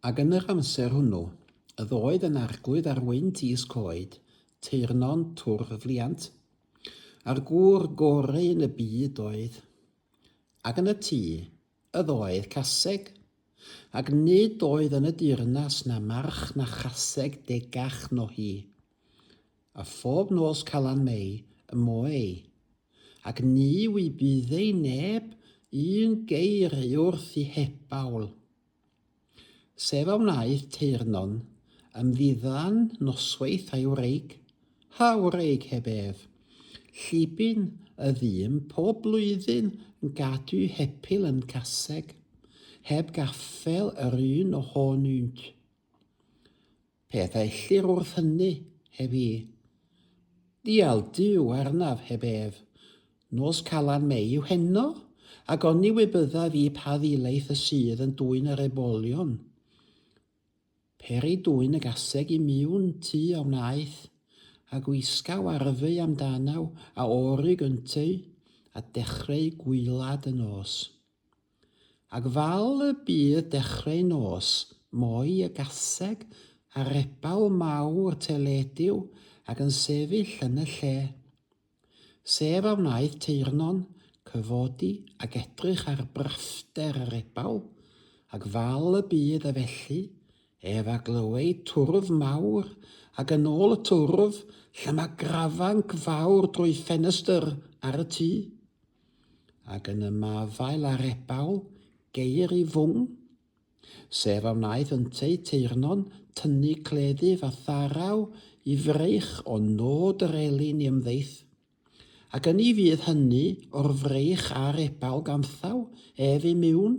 Ac yn yr amser hwnnw, yf oedd yn arglwydd ar wynt is coed, teyrnon twrfliant, a'r gŵr gore yn y byd oedd. Ac yn y tŷ, yf oedd caseg, ac nid oedd yn y deyrnas na march na chaseg degach no hi. A phob nos Calan Mei y moe ei. ac ni wybyddei neb un geir ei wrth i hebawl. Sef a wnaeth teyrnon ymddiddan noswaith a'i wreig, ha wreig heb ef, llibyn y ddyn pob blwyddyn yn gadw hepil yn caseg, heb gaffel yr un ohonynt. Peth a ellir wrth hynny, heb i. Ddial Duw arnaf heb ef. Nos Calan Mei yw heno, ac oni wy byddaf i pa ddilaeth y sydd yn dwyn yr ebolion. Peri dwyn y gaseg i miwn tu a wnaeth, a gwisgaw arfeu amdanau a orig ynteu, a dechreu gwylad y nos. Ac fal y bu dechreu nos moi y gaseg ar rebaul mawr teledu-w ac yn sefyll yn y lle. Sef a wnaeth teyrnon, cyfodi ac edrych ar braffder y rebaul, ac fal y bu ef felly, ef a glyweu twrf mawr, ac yn ol y twrf llama grafanc fawr drwy ffenestr ar y tu. ac yn ymafael ar ebaw geir i fwng, sef a wnaeth ynteu teyrnon tynnu cleddyf a tharaw i fraich o nod yr elyn i ymddeith, ac yn i fydd hynny o'r fraich a'r ebaw ganthaw ef i miwn.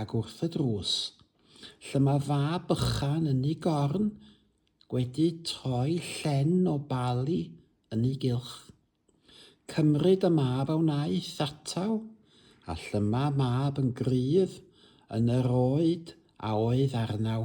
Ac wrth y drws, lle mae fab bychan yn ei gorn, gwedi troi llen o bali yn ei gylch. Cymryd y mab a wnaeth atal, a llyma mab yn gryf yn yr oed a oedd arnaw.